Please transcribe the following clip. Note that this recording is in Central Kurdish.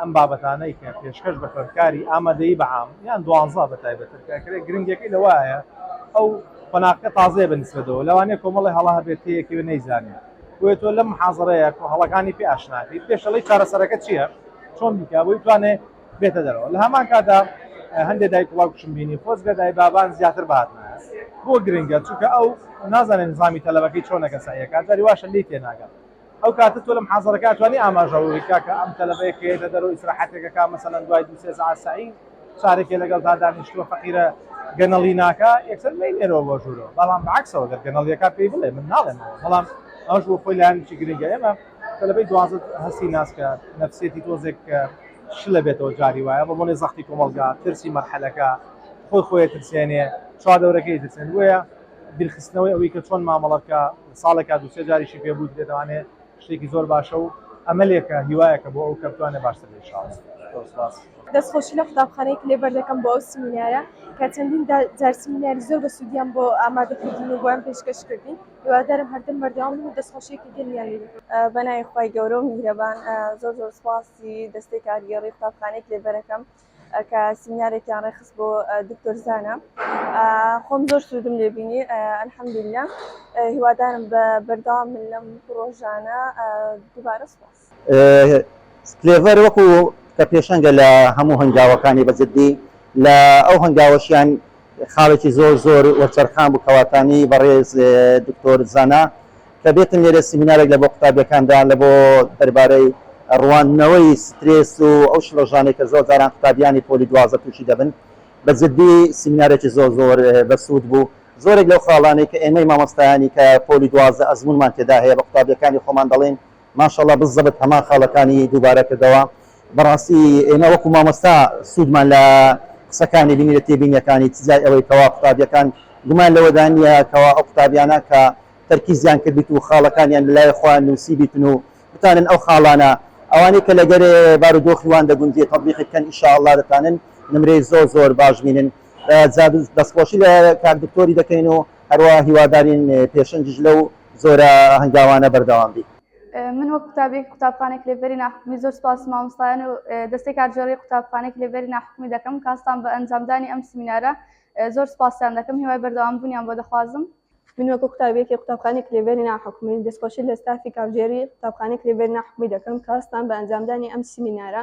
ئەم بابەتانەی کە پێشکەش بە خوێندکاری ئامادەیی بە عام یان دوانزە بە تایبەتر کە کرێ گرنگیەکەی لەوایە ئەو قۆناغکە تازەیە بە نیسبەتەوە لەوانەیە کۆمەڵی هەڵە هەبێت تێیەکەوێ نەیزانێت بۆیە تۆ لەم محازەرەیە کۆ هەڵەکانی پێ ئاشنا بیت پێش دەڵێی چارەسەرەکە چییە چۆن بیکا بۆی بتوانێ بێتە دەرەوە لە هەمان کاتا هەندێک دایک وڵاو کوشم بینی خۆزگە دای بابان زیاتر بهاتنە بۆ گرنگە چونکە ئەو نازانێت نظامی تەلەبەکەی چۆنەکە سەعیەکە جاری واشە لێی تێناگات ئەو کاتە تۆ لە محازەرەکە ئەتوانی ئاماژە بوی کاکە ئەم تەلەبەیە کە یەتە دەرەوە ئیسراحەتێک ئەکا مەسەلەن دوای دوو سێ سەعات سەعی چارێکێ لەگەڵدا دانیشتووە فەقیرە گەنەڵی ناکا یەکسەر مەینێرەوە بۆ ژوورەوە بەڵام بەعەکسەوە گەر گەنەڵیەکە پێی بڵێ من ناڵێمەوە بەڵام ئەوش بۆ خۆی لایەنێکی گرنگە ئێمە تەلەبەی دوازە هەستی ناسکە نەفسێتی تۆزێک کە شلە بێتەوە جاری وایە بە بۆنێ زەختی کۆمەڵگا ترسی مەرحەلەکە خۆی خۆی ترسێنێ چواردەورەکەی ترسێن بۆیە بیرخستنەوەی ئەوەی کە چۆن مامەڵە بکا لە ساڵێکا دوو سێ جاریشی پێ بوو درێ دەوانێ شتێکی زۆر باشە و ئەمەلێکە هیوایەکە بۆ ئەو کە بتوانێ باشتر بێ ئیشاڵا زۆر سوپاس. دەست خۆشی لە قوتابخانەی کلێ بەر دەکەم بۆ ئەو سیمینارە کە چەندین جار سیمیناری زۆر بە سوودیان بۆ ئامادە کردین و بۆیان پێشکەش کردین هیوادارم هەردەم بەردەوام بن و دەست خۆشیەکی گەرمیان لێ بکەم بە ناوی خوای گەورە و میهرەبان زۆر زۆر سوپاسی دەستەی کارگێڕی قوتابخانەی کلێبەرەکەم. کە سیمینارێکیان ڕێخست بۆ دکتۆر زانا خۆم زۆر سوودم لێبینی ئەلحەمدللا هیوادارم بە بەردەوام من لەم پرۆژانە دووبارە سپاس سلێڤەر وەکو کە پێشەنگە لە هەموو هەنگاوەکانی بەجددی لە ئەو هەنگاوەشیان خاڵێکی زۆر زۆر وەرچەرخان بوو کەواتانی بەڕێز دکتۆر زانا کە بێتن لێرە سیمینارێک لە بۆ قوتابیەکاندا لە بۆ دەربارەی ڕواندنەوەی سترێس و ئەو شڵەژانەی کە زۆر جاران قوتابیانی پۆلی دوازدە تووشی دەبن بە جدی سیمینارێکی زۆر زۆر بەسوود بوو زۆرێک لەو خاڵانەی کە ئێمەی مامۆستایانی کە پۆلی دوازدە ئەزموونمان تێدا هەیە بە قوتابیەکانی خۆمان دەڵێین ماشاءاللە بززەبت هەمان خاڵەکانی دووبارە کردەوە بەڕاستی ئێمە وەکو مامۆستا سوودمان لە قسەکانی بینی لە تێبینیەکانی تجای ئەوەی کەوا قوتابیەکان گومان لەوەدا نیە کەوا ئەو قوتابیانە کە تەرکیزیان کردبیت و خاڵەکانیان لەلای خۆیان نوسیبیتن و بتانن ئەو خاڵانە ئەوانەی کە لەگەرێ بارودۆخی وان دەگونجێ تەطبیقی بکەن ان شاء اللە دەتانن نمرەی زۆر زۆر باش بینن جا دەستخۆشی لە کاک دکتۆری دەکەین و هەروا هیوادارین پێشەنگیش لەو زۆر هەنگاوانە بەردەوام بی. من وەک قوتابیەکی قوتابخانەی کلێڤەری ناحکومی زۆر سپاسی مامۆستایان و دەستەی کارگێڕی قوتابخانەی کلێڤەری ناحکومی دەکەم کە هەستان بە ئەنجامدانی ئەم سمینارە زۆر سپاسیان دەکەم هیوای بەردەوام بوونیان بۆ دەخوازم من وەکو قوتابیەکی قوتابخانەی کلێڤەری ناحکومی دەستخۆشی لە ستافی کارگێڕی قوتابخانەی کلێڤەری ناحکومی دەکەم کە هەستان بە ئەنجامدانی ئەم سمینارە